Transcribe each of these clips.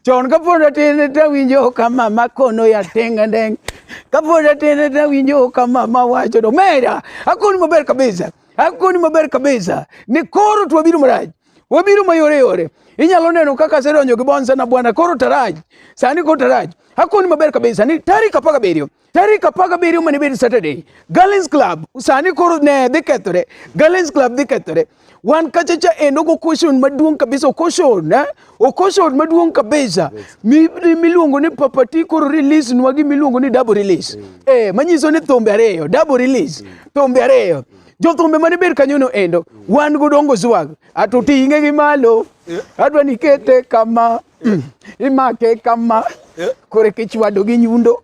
chon kapod atin tawinjo ka mama kono ya tenga ndeng kapod atin tawinjo ka mama wacho do mera akoni maber kabisa akoni maber kabisa ni koro to wabiro marach wabiro mayore yore inyalo neno kaka asedonjo gi bonsa na bwana koro taraj sani koro taraj akoni maber kabisa ni tarik apar gabiriyo tarik apar gabiriyo mane bedo Saturday, Gallens Club sani koro ne dhi kethore, Gallens Club dhi kethore. Wan kacha cha endo go caution maduong' kabisa, caution eh? O caution maduong' kabisa miluongo ni papati koro release nwa gi miluongo ni double release. Mm. Eh, manyiso ni thumbe ariyo, double release, mm. thumbe ariyo. Jothumbe mane ber kanyono endo, mm. wan go dongo zwag, ato ting'e gi malo, eh. adwa nikete kama, eh. imake kama, eh. kore kichwado gi nyundo.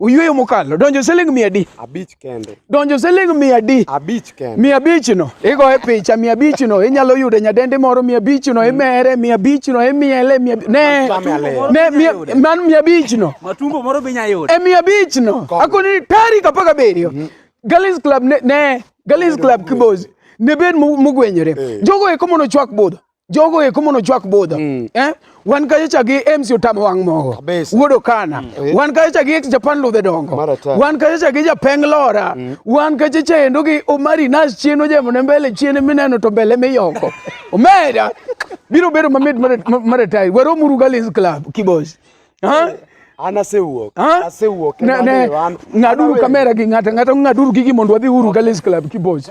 Oyueyo mokalo. Donjo siling mia adi? Abich kende. Donjo siling mia adi? Abich kende. Mia abich no. Igoye picha mia abich no. Inyalo yudo nyadendi moro mia abich no. Imere mia abich no. Imiele mia ne. Ne mia man mia abich no. Matumbo moro binya yudo. E mia abich no. Akoni tarik apar gabiriyo. Mm-hmm. Galis Club ne ne Galis Club Kibozi. Ne ben mugwenyore. Eh. Jogo eko mono chwak budho. jogo eko mono chwak budha mm. eh? wan kacha cha gi MC Otamo wang' mogo wuod Okana mm. Eh. wan kacha cha gi ex Japan ludhe dongo wan kacha cha gi Japeng Lora mm. wan kacha cha endo gi Omari Nas chien ojemo ne mbele chien mineno to mbele miyoko omeda biro bedo mamit maretai wero muru Gallis Club kibosh ha eh. an asewuok asewuok ng'aduru kamera gi ng'ata ng'ata ng'aduru gigi mondo wadhi uru Gallis Club kibosh